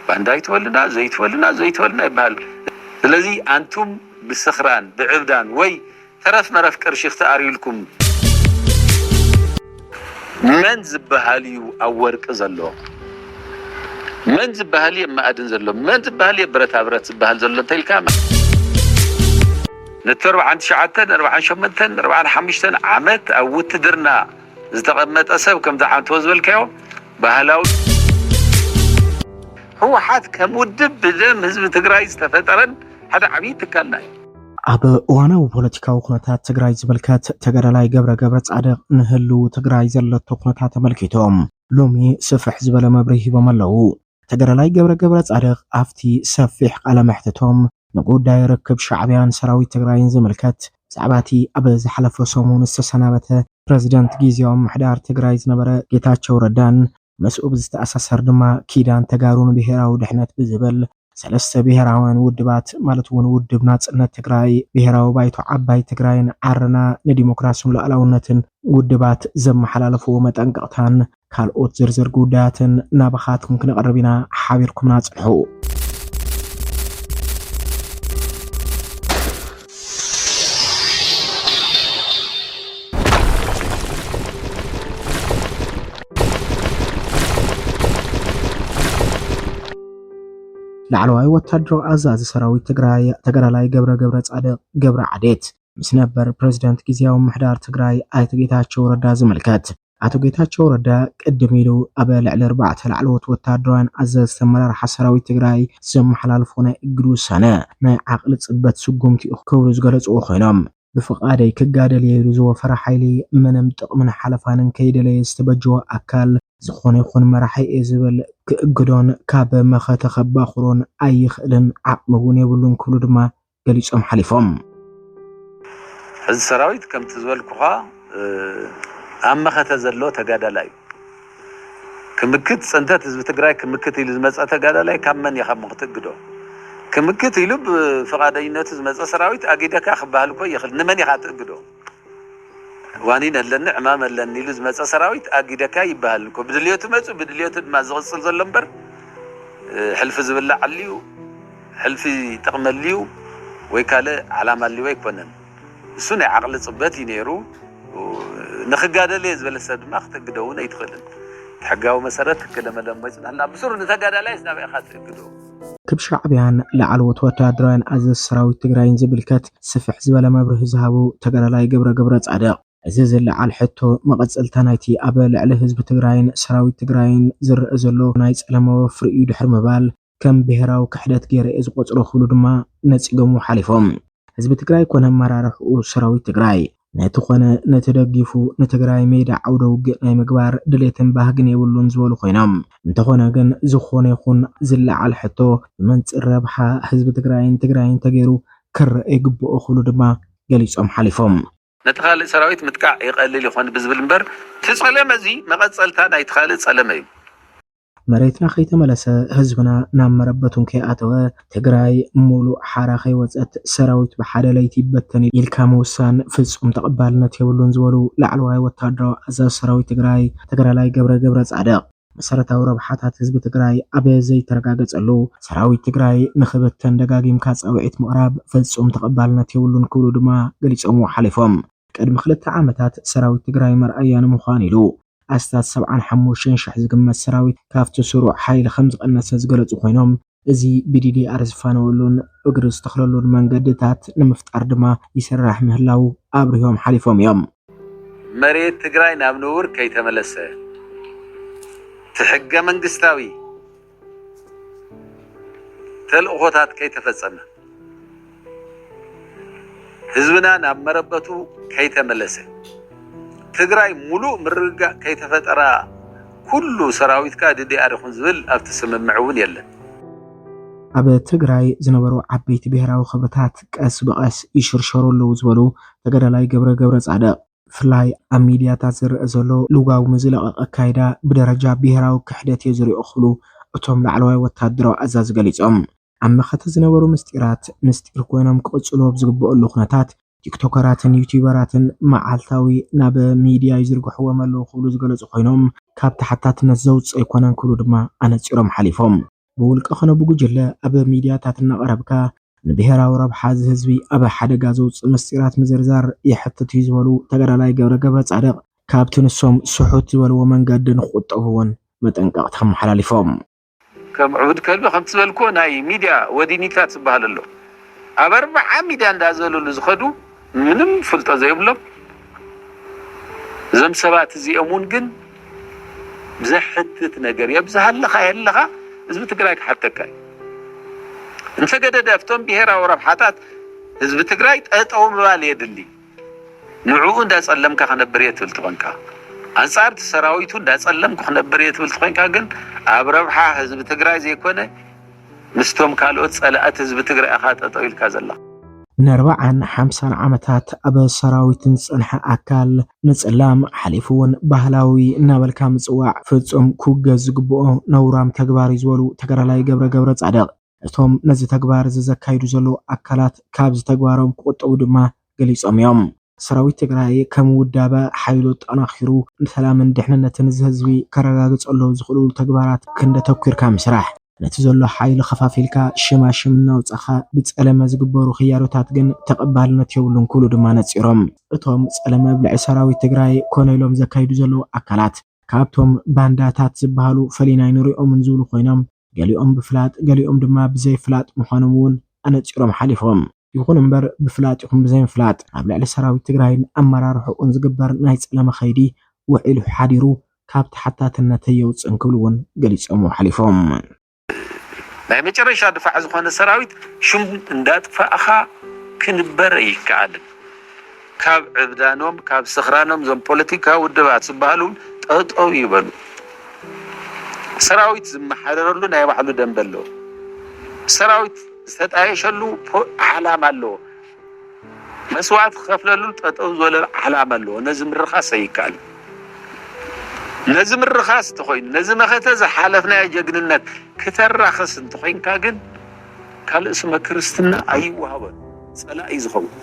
ባንዳ ኣይትበሉና ዘይትበሉና ዘይትበሉና ይበሃል ስለዚ ኣንቱም ብስኽራን ብዕብዳን ወይ ተረፍ መረፍ ቅርሺ ክተኣርዩልኩም። መን ዝበሃል እዩ ኣብ ወርቂ ዘሎ መን ዝበሃል እየ መኣድን ዘሎ መን ዝበሃል እየ ብረታ ብረት ዝበሃል ዘሎ እንተኢልካ ነቲ ኣርብዓን ትሽዓተን ኣርብዓን ሸሞንተን ኣርብዓን ሓሙሽተን ዓመት ኣብ ውትድርና ዝተቐመጠ ሰብ ከምቲ ዓንተቦ ዝበልካዮ ባህላዊ። ህወሓት ከም ውድብ ብደም ህዝቢ ትግራይ ዝተፈጠረን ሓደ ዓብዪ ትካልና እዩ። ኣብ እዋናዊ ፖለቲካዊ ኩነታት ትግራይ ዝምልከት ተጋዳላይ ገብረ ገብረ ጻድቕ ንህልው ትግራይ ዘለቶ ኩነታት ተመልኪቶም ሎሚ ስፍሕ ዝበለ መብርሂ ሂቦም ኣለዉ። ተጋዳላይ ገብረ ገብረ ጻድቕ ኣብቲ ሰፊሕ ቃለ መሕትቶም ንጉዳይ ርክብ ሻዕቢያን ሰራዊት ትግራይን ዝምልከት ብዛዕባ እቲ ኣብ ዝሓለፈ ሰሙን ዝተሰናበተ ፕረዚደንት ጊዜያዊ ምምሕዳር ትግራይ ዝነበረ ጌታቸው ረዳን ምስኡ ብዝተኣሳሰር ድማ ኪዳን ተጋሩ ንብሄራዊ ድሕነት ብዝብል ሰለስተ ብሄራውያን ውድባት ማለት እውን ውድብ ናፅነት ትግራይ፣ ብሄራዊ ባይቶ ዓባይ ትግራይን ዓረና ንዲሞክራሲን ሉኣላውነትን ውድባት ዘመሓላለፍዎ መጠንቀቕታን ካልኦት ዝርዝር ጉዳያትን ናባኻትኩም ክነቕርብ ኢና፣ ሓቢርኩምና ጽንሑ። ላዕለዋይ ወታደራዊ ኣዛዚ ሰራዊት ትግራይ ተጋዳላይ ገብረ ገብረ ጻድቕ ገብረ ዓዴት ምስ ነበር ፕሬዚደንት ግዜያዊ ምሕዳር ትግራይ ኣይተ ጌታቸው ረዳ ዝምልከት ኣቶ ጌታቸው ረዳ ቅድም ኢሉ ኣብ ልዕሊ ኣርባዕተ ላዕለዎት ወታደራውያን ኣዘዝቲ ኣመራርሓ ሰራዊት ትግራይ ዘመሓላልፎ ናይ እግድ ውሳነ ናይ ዓቕሊ ፅበት ስጉምቲ እዩ ክብሉ ዝገለፅዎ ኮይኖም ብፍቓደይ ክጋደል እየ ኢሉ ዝወፈረ ሓይሊ ምንም ጥቕምን ሓለፋን እንከይደለየ ዝተበጀወ ኣካል ዝኾነ ይኹን መራሒ እየ ዝብል ክእግዶን ካብ መኸተ ከባኹሮን ኣይኽእልን ዓቕሚ እውን የብሉን ክብሉ ድማ ገሊፆም ሓሊፎም። ሕዚ ሰራዊት ከምቲ ዝበልኩኻ ኣብ መኸተ ዘሎ ተጋዳላይ እዩ። ክምክት ፅንተት ህዝቢ ትግራይ ክምክት ኢሉ ዝመፀ ተጋዳላይ ካብ መን እየ ካብ ክትእግዶ? ክምክት ኢሉ ብፍቓደኝነቱ ዝመፀ ሰራዊት ኣጊደካ ክበሃል እኮ ይኽእል ንመን ኢኻ ትእግዶ? ዋኒን ኣለኒ ዕማም ኣለኒ ኢሉ ዝመጸ ሰራዊት ኣጊደካ ይበሃል እኮ ብድልዮቱ መጹ ብድልዮቱ ድማ ዝቕጽል ዘሎ እምበር ሕልፊ ዝብላዕ ኣልዩ ሕልፊ ጥቕሚ ኣልዩ ወይ ካልእ ዓላማ ኣልዎ ኣይኮነን እሱ ናይ ዓቕሊ ጽበት እዩ ነይሩ ንክጋደል እየ ዝበለ ሰብ ድማ ክትእግዶ እውን ኣይትኽእልን እቲ ሕጋዊ መሰረት ክለመለሞ ይጽናሕና ብሱሩ ንተጋዳላይ ስናበይ ኢኻ ትእግዶ ክብ ሻዕቢያን ላዕለዎት ወታደራውያን ኣዘዝ ሰራዊት ትግራይን ዝምልከት ስፍሕ ዝበለ መብርሂ ዝሃቡ ተጋዳላይ ገብረ ገብረፃድቕ፣ እዚ ዝለዓል ሕቶ መቐፀልታ ናይቲ ኣብ ልዕሊ ህዝቢ ትግራይን ሰራዊት ትግራይን ዝረኣ ዘሎ ናይ ፀለመ ወፍሪ እዩ ድሕሪ ምባል፣ ከም ብሄራዊ ክሕደት ገይረ'የ ዝቖፅሮ ክብሉ ድማ ነፂጎምዎ ሓሊፎም። ህዝቢ ትግራይ ኮነ ኣመራርሕኡ ሰራዊት ትግራይ ነቲ ኮነ ነቲ ደጊፉ ንትግራይ ሜዳ ዓውደ ውግእ ናይ ምግባር ድሌትን ባህግን የብሉን ዝበሉ ኮይኖም እንተኾነ ግን ዝኾነ ይኹን ዝለዓል ሕቶ ብመንፅር ረብሓ ህዝቢ ትግራይን ትግራይን ተገይሩ ክረኣ ይግበኦ ክብሉ ድማ ገሊፆም ሓሊፎም። ነቲ ካልእ ሰራዊት ምጥቃዕ ይቐልል ይኾን ብዝብል እምበር እቲ ፀለመ እዚ መቐፀልታ ናይቲ ካልእ ፀለመ እዩ። መሬትና ከይተመለሰ ህዝብና ናብ መረበቱን ከይኣተወ ትግራይ ሙሉእ ሓራ ከይወፀት ሰራዊት ብሓደ ለይቲ ይበተን እዩ ኢልካ ምውሳን ፍፁም ተቐባልነት የብሉን ዝበሉ ላዕለዋይ ወታደራዊ ኣዛዚ ሰራዊት ትግራይ ተጋዳላይ ገብረ ገብረፃድቕ፣ መሰረታዊ ረብሓታት ህዝቢ ትግራይ ኣብ ዘይተረጋገፀሉ ሰራዊት ትግራይ ንኽብተን ደጋጊምካ ፃውዒት ምቕራብ ፍፁም ተቐባልነት የብሉን ክብሉ ድማ ገሊፆምዎ ሓሊፎም። ቅድሚ ክልተ ዓመታት ሰራዊት ትግራይ መርኣያ ንምዃን ኢሉ ኣስታት ሰብዓን ሓሙሽተን ሽሕ ዝግመት ሰራዊት ካብቲ ስሩዕ ሓይሊ ከምዝቐነሰ ዝገለፁ ኮይኖም፣ እዚ ብዲዲኣር ዝፋነወሉን እግሪ ዝተኽለሉን መንገድታት ንምፍጣር ድማ ይስራሕ ምህላው ኣብሪሆም ሓሊፎም እዮም። መሬት ትግራይ ናብ ንቡር ከይተመለሰ እቲ ሕገ መንግስታዊ፣ ተልእኾታት ከይተፈጸመ፣ ህዝብና ናብ መረበቱ ከይተመለሰ፣ ትግራይ ሙሉእ ምርግጋእ ከይተፈጠራ ኩሉ ሰራዊትካ ዲዲኣር ይኹን ዝብል ኣብቲ ስምምዕ እውን የለን። ኣብ ትግራይ ዝነበሩ ዓበይቲ ብሄራዊ ክብርታት ቀስ ብቐስ ይሽርሸሩ ኣለዉ ዝበሉ ተጋዳላይ ገብረ ገብረፃድቕ፣ ብፍላይ ኣብ ሚድያታት ዝረኣ ዘሎ ልጓሙ ዝለቐቐ ኣካይዳ ብደረጃ ብሄራዊ ክሕደትዮ ዝሪኦ ክብሉ እቶም ላዕለዋይ ወታደራዊ ኣዛዚ ገሊፆም። ኣብ መኸተ ዝነበሩ ምስጢራት ምስጢር ኮይኖም ክቕፅሉ ኣብ ዝግበኣሉ ኩነታት ቲክቶከራትን ዩቲዩበራትን መዓልታዊ ናብ ሚድያ ይዝርግሕዎም ኣለው ክብሉ ዝገለፁ ኮይኖም ካብ ተሓታትነት ዘውፅእ ኣይኮነን ክብሉ ድማ ኣነፂሮም ሓሊፎም። ብውልቀ ኾነ ብጉጅለ ኣብ ሚድያታት እናቐረብካ ንብሄራዊ ረብሓ እዚ ህዝቢ ኣብ ሓደጋ ዘውፅእ ምስጢራት ምዝርዛር የሕትት እዩ ዝበሉ ተጋዳላይ ገብረ ገብረፃድቕ ካብቲ ንሶም ስሑት ዝበልዎ መንገዲ ንክቑጠቡ እውን መጠንቀቕታ ኣመሓላሊፎም። ከም ዕቡድ ከልቢ ከምቲ ዝበልክዎ ናይ ሚድያ ወዲኒታት ዝበሃል ኣሎ ኣብ ኣርብዓ ሚድያ እንዳዘለሉ ዝኸዱ ምንም ፍልጦ ዘይብሎም እዞም ሰባት እዚኦም እውን ግን ዘሕትት ነገር የብዝሃለኻ የለኻ ህዝቢ ትግራይ ክሓተካ እዩ እንተገደደ ኣብቶም ብሄራዊ ረብሓታት ህዝቢ ትግራይ ጠጠው ምባል የድሊ ንዕኡ እንዳጸለምካ ክነብር እየ ትብል ትኾንካ ኣንጻር እቲ ሰራዊቱ እንዳጸለምኩ ክነብር እየ ትብል ትኾንካ ግን ኣብ ረብሓ ህዝቢ ትግራይ ዘይኮነ ምስቶም ካልኦት ፀላእት ህዝቢ ትግራይ እኻ ጠጠው ኢልካ ዘለኻ። ንኣርባዓን ሓምሳን ዓመታት ኣብ ሰራዊት ዝፀንሐ ኣካል ምፅላም ሓሊፉ እውን ባህላዊ እናበልካ ምፅዋዕ ፍፁም ክውገዝ ዝግበኦ ነውራም ተግባር እዩ ዝበሉ ተጋዳላይ ገብረ ገብረፃድቕ እቶም ነዚ ተግባር እዚ ዘካይዱ ዘለዉ ኣካላት ካብዚ ተግባሮም ክቑጠቡ ድማ ገሊፆም እዮም። ሰራዊት ትግራይ ከም ውዳበ ሓይሉ ኣጠናኺሩ ንሰላምን ድሕንነትን እዚ ህዝቢ ከረጋግፀሎም ዝኽእልሉ ተግባራት ክንዲ ኣተኲርካ ምስራሕ፣ ነቲ ዘሎ ሓይሊ ኸፋፊልካ ሸማሽም እናውፃእኻ ብፀለመ ዝግበሩ ክያዶታት ግን ተቐባልነት የብሉን ክብሉ ድማ ነፂሮም። እቶም ፀለመ ኣብ ልዕሊ ሰራዊት ትግራይ ኮነ ኢሎም ዘካይዱ ዘለዉ ኣካላት ካብቶም ባንዳታት ዝበሃሉ ፈሊና ኣይንሪኦምን ዝብሉ ኮይኖም፣ ገሊኦም ብፍላጥ ገሊኦም ድማ ብዘይ ፍላጥ ምዃኖም እውን ኣነፂሮም ሓሊፎም። ይኹን እምበር ብፍላጥ ይኹን ብዘይምፍላጥ ኣብ ልዕሊ ሰራዊት ትግራይን ኣመራርሕኡን ዝግበር ናይ ፀለመ ከይዲ ውዒሉ ሓዲሩ ካብ ተሓታትነት ኣየውፅእን ክብሉ እውን ገሊፆምዎ ሓሊፎም። ናይ መጨረሻ ድፋዕ ዝኾነ ሰራዊት ሹም እንዳጥፋእኻ ክንበር ኣይከኣልን። ካብ ዕብዳኖም ካብ ስኽራኖም እዞም ፖለቲካዊ ውድባት ዝበሃሉ ጠጠው ይበሉ። ሰራዊት ዝመሓደረሉ ናይ ባዕሉ ደንበ ኣለዎ። ሰራዊት ዝተጣየሸሉ ዓላማ ኣለዎ። መስዋእቲ ክኸፍለሉ ጠጠው ዝበለ ዓላማ ኣለዎ። ነዚ ምርኻስ ኣይከኣልን። ነዚ ምርኻስ እንተኾይኑ ነዚ መኸተ ዝሓለፍናዮ ጀግንነት ክተራኽስ እንተኾይንካ ግን ካልእ ስመ ክርስትና ኣይወሃቦን። ጸላኢ ዝኸውን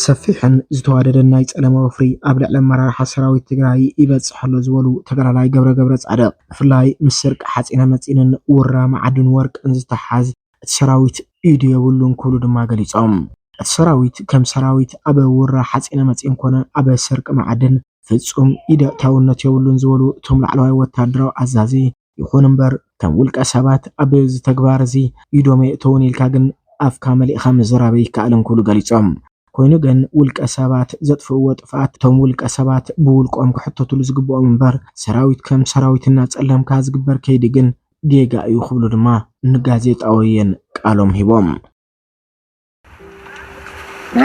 ሰፊሕን ዝተዋደደን ናይ ጸለመ ወፍሪ ኣብ ልዕሊ ኣመራርሓ ሰራዊት ትግራይ ይበጽሕ ኣሎ ዝበሉ ተጋዳላይ ገብረ ገብረ ጻድቕ ብፍላይ ምስ ስርቂ ሓጺነ መጺንን ውራ መዓድን ወርቅን ዝተሓሓዝ እቲ ሰራዊት ኢዱ የብሉን ክብሉ ድማ ገሊጾም። እቲ ሰራዊት ከም ሰራዊት ኣብ ውራ ሓጺነ መጺን ኮነ ኣብ ስርቂ መዓድን ፍጹም ኢድ ኣእታውነት የብሉን ዝበሉ እቶም ላዕለዋይ ወታደራዊ ኣዛዚ፣ ይኹን እምበር ከም ውልቀ ሰባት ኣብ እዚ ተግባር እዚ ኢዶም የእተዉን ኢልካ ግን ኣፍካ መሊእኻ ምዝራብ ኣይከኣልን ክብሉ ገሊፆም። ኮይኑ ግን ውልቀ ሰባት ዘጥፍእዎ ጥፍኣት እቶም ውልቀ ሰባት ብውልቆም ክሕተትሉ ዝግበኦም እምበር ሰራዊት ከም ሰራዊት እናፀለምካ ዝግበር ከይዲ ግን ጌጋ እዩ ክብሉ ድማ ንጋዜጣ ወይን ቃሎም ሂቦም።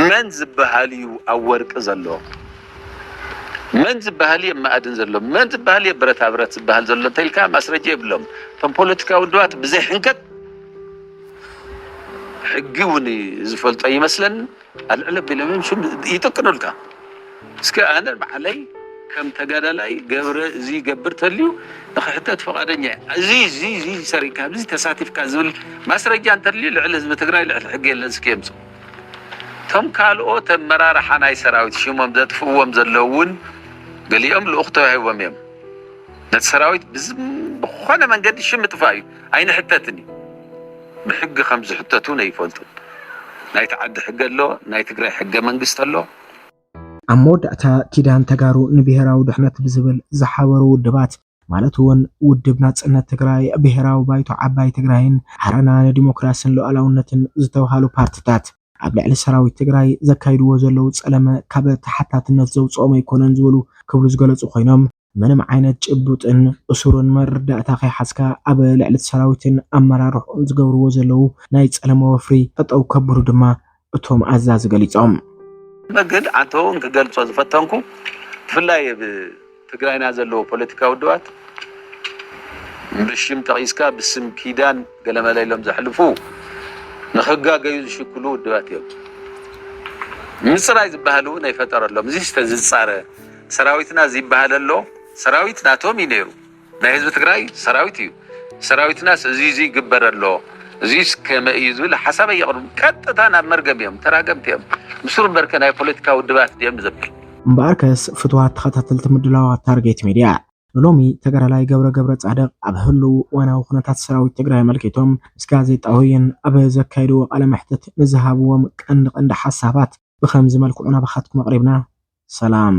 መን ዝበሃል እዩ ኣብ ወርቂ ዘሎ መን ዝበሃል እየ ማእድን ዘሎ መን ዝበሃል እየ ብረታ ብረት ዝበሃል ዘሎ እንተኢልካ ማስረጃ የብሎም እቶም ፖለቲካዊ ውድባት ብዘይ ሕንከት ሕጊ እውን ዝፈልጦ ይመስለን ኣልዕለ ቢሎም ይጥቅኑልካ እስከ ኣነ ባዕለይ ከም ተጋዳላይ ገብረ እዚ ገብር ተልዩ ንክሕተት ፍቃደኛ እየ እዚ እዚ እዚ ሰሪካ ኣብዚ ተሳቲፍካ ዝብል ማስረጃ እንተልዩ ልዕሊ ህዝቢ ትግራይ ልዕሊ ሕጊ የለን እስኪ የምፅኡ እቶም ካልኦት ኣመራርሓ ናይ ሰራዊት ሽሞም ዘጥፍእዎም ዘለዉ እውን ገሊኦም ልኡኽ ተዋሂቦም እዮም ነቲ ሰራዊት ብዝኾነ መንገዲ ሽም ምጥፋእ እዩ ኣይንሕተትን እዩ ብሕጊ ከም ዝሕተቱ ነይፈልጡን ናይቲ ዓዲ ሕገ ኣሎ ናይ ትግራይ ሕገ መንግስቲ ኣሎ ኣብ መወዳእታ ኪዳን ተጋሩ ንብሄራዊ ድሕነት ብዝብል ዝሓበሩ ውድባት ማለት እውን ውድብ ናፅነት ትግራይ፣ ብሄራዊ ባይቶ ዓባይ ትግራይን ዓረና ንዲሞክራስን ሉኣላውነትን ዝተብሃሉ ፓርቲታት ኣብ ልዕሊ ሰራዊት ትግራይ ዘካይድዎ ዘለዉ ፀለመ ካብ ተሓታትነት ዘውፅኦም ኣይኮነን ዝበሉ ክብሉ ዝገለፁ ኮይኖም ምንም ዓይነት ጭቡጥን እሱርን መረዳእታ ከይሓዝካ ኣብ ልዕሊ ሰራዊትን ኣመራርሕኡን ዝገብርዎ ዘለዉ ናይ ጸለመ ወፍሪ ጠጠው ከብሉ ድማ እቶም ኣዛዚ ገሊጾም። ግን ኣንተ ውን ክገልጾ ዝፈተንኩ ብፍላይ ኣብ ትግራይና ዘለዉ ፖለቲካዊ ውድባት ብሽም ጠቒስካ ብስም ኪዳን ገለመለ ኢሎም ዘሕልፉ ንኽጋገዩ ዝሽክሉ ውድባት እዮም። ምጽራይ ዝበሃል እውን ኣይፈጠረሎም። እዚስ ተዝጻረ ሰራዊትና ዝይባሃለሎ ሰራዊት ናቶም እዩ ነይሩ ናይ ህዝቢ ትግራይ ሰራዊት እዩ ሰራዊትናስ እዙይ እዙይ ይግበረሎ እዙይስ ከመይ እዩ ዝብል ሓሳብ ኣየቕርቡን ቀጥታ ናብ መርገም እዮም ተራገምቲ እዮም ብሱሩ እምበርከ ናይ ፖለቲካ ውድባት ድዮም ዝብል እምበኣርከስ ፍትዋት ተኸታተልቲ ምድላዋት ታርጌት ሚድያ። ንሎሚ ተጋዳላይ ገብረ ገብረፃድቕ ኣብ ህልው እዋናዊ ኩነታት ሰራዊት ትግራይ ኣመልኪቶም ምስ ጋዜጣ ወይን ኣብ ዘካየድዎ ቃለ መሕትት ንዝሃብዎም ቀንዲ ቀንዲ ሓሳባት ብኸምዚ መልክዑ ናባኻትኩም ኣቕሪብና። ሰላም!